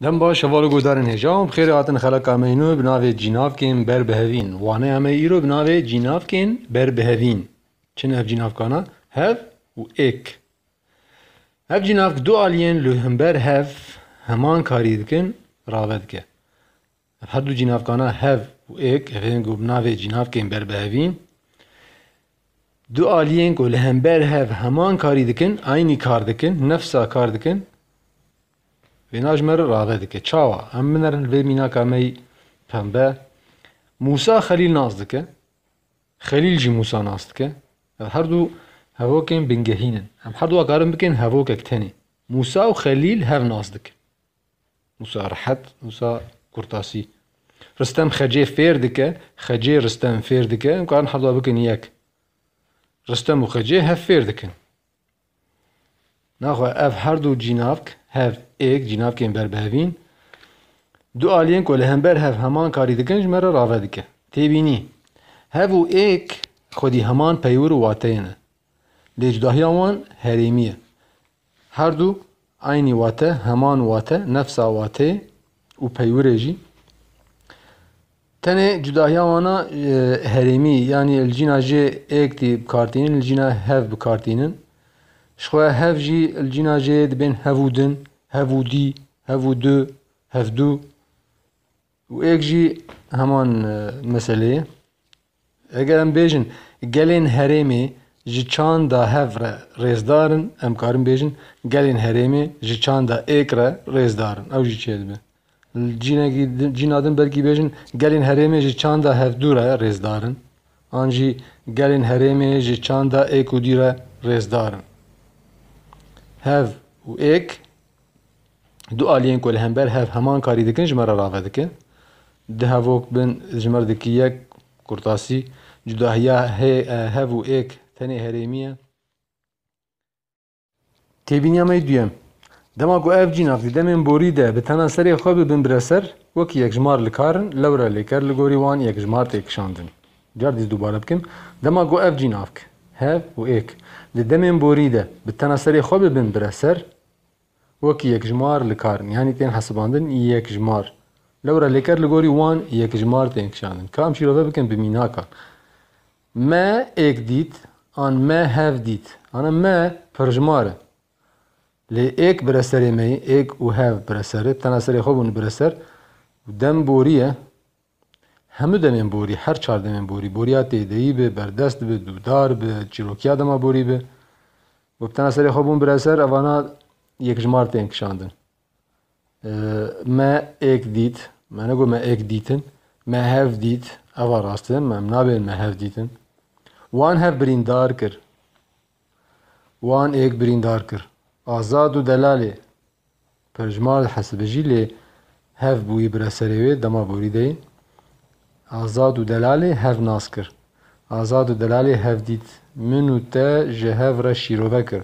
Dem baş, heval û guhdarên hêja wan bi xêrê hatin xeleka me îno bi navê Cînavkên ber bi hevîn. Waneya me îro bi navê Cînavkên ber bi hevîn. Çi ne ev cînavkana? Hev û êk. Ev cînavk du aliyên li himber hev heman karî dikin rave dike. Ev her du cînavkana hev û êk ev ên ku bi navê cînavkên berbihevîn du aliyên ku li hember hev heman karî dikin, aynî kar dikin, nefsa kar dikin wêna ji me re rave dike. Çawa? Em binerin li vê mînaka me yî pembe. Mûsa Xelîl nas dike, Xelîl jî Mûsa nas dike. Ev her du hevokên bingehîn in. Em her du karin bikin hevokek tenê. Mûsa û Xelîl hev nas dikin. Wisa rehet, wisa kurtasî. Ristem Xecê fêr dike, Xecê Ristem fêr dike, em karin hevda bikin yek. Ristem û Xecê hev fêr dikin. Naxwe ev her du cînavk, hev, êk, cînavkên berbihevîn, du aliyên ku li hember hev heman karî dikin ji me re rave dike. Têbînî, hev û êk xwedî heman peywir û wateyê ne. Lêcgahiya wan herêmî ye. Her du eynî wate, heman wate, nefsa wateyê û peywirê jî. Tenê cudahiya wan a herêmî yanî li cîna jê êktî bi kar tînin, li cîna hev bi kar tînin. Ji xwe hev jî li cîna jê dibên hev û din, hev û dî, hev û du, hevdu û êk jî heman meseleyê. Eger em bêjin gelên herêmê ji çanda hev re rêzdar in, em karin bêjin gelên herêmê ji çanda êk re rêzdar in. Ew jî çêdibe. Li cînekî din, cîna din belkî bêjin gelên herêmê ji çanda hevdû re rêzdar in an jî gelên herêmê ji çanda êk û dî re rêzdar in. Hev û êk. Du aliyên ku li hember hev heman karî dikin ji me re rave dikin. Du hevok bin ji me re dikî yek kurtasî. Cudahiya hê hev û êk tenê herêmî ye. Têbîniya me yê duyem, dema ku ev cînak di demên borî de bi tena serê xwe bibin bi re ser, wekî yekjmar li kar in, lewre lê ker li gorî wan yekjmar tê kişandin. Gerdîz dubare bikin, dema ku ev cînavk, hev û êk, di demên borî de bi tena serê xwe bibin bireser, wek yekjimar likarin, yanî tên hesibandin yekjimar. Lewra lêker li gorî wan yekjimar tên kişandin. Ka em şîrove bikin bi mînakan. Me êk dît an me hev dît. Ana me pirjimar e. Lê êk bireserê me ye, êk û hev bireser e, bi tena serê xwe bûn bireser û dem borî ye, Hemû demên borî, her çar demên borî, boriya têdeyî bi, berdest bi, dûdar bi, çîrokiya dema borî bi û bi tena serê xwe bûn bireser, evana yekjimar tên kişandin. Me êk dît, me negot me êk dîtin, me hev dît, eva rast e, em nabêjin me hev dîtin. Wan hev birîndar kir. Wan êk birîndar kir. Azad û delalê Perjmal li Hesibijî lê hev bûyî bira serê wê dema borî deyî. Azad û delalê hev nas kir. Azad û delalê hev dît. Min û te ji hev re şîrove kir.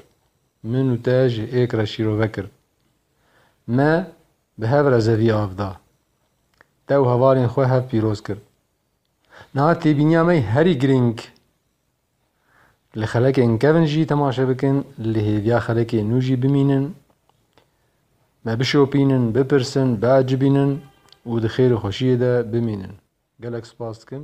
Min û te ji êk re şîrove kir. Me bi hev re zevî av da. Te û hevalên xwe hev pîroz kir. Niha têbîniya me herî girîng. Li xelekên kevn jî temaşe bikin, li hêviya xelekê nû jî bimînin, me bişopînin, bipirsin, biecibînin û di xêr û xweşiyê de bimînin. Gelek spas dikim.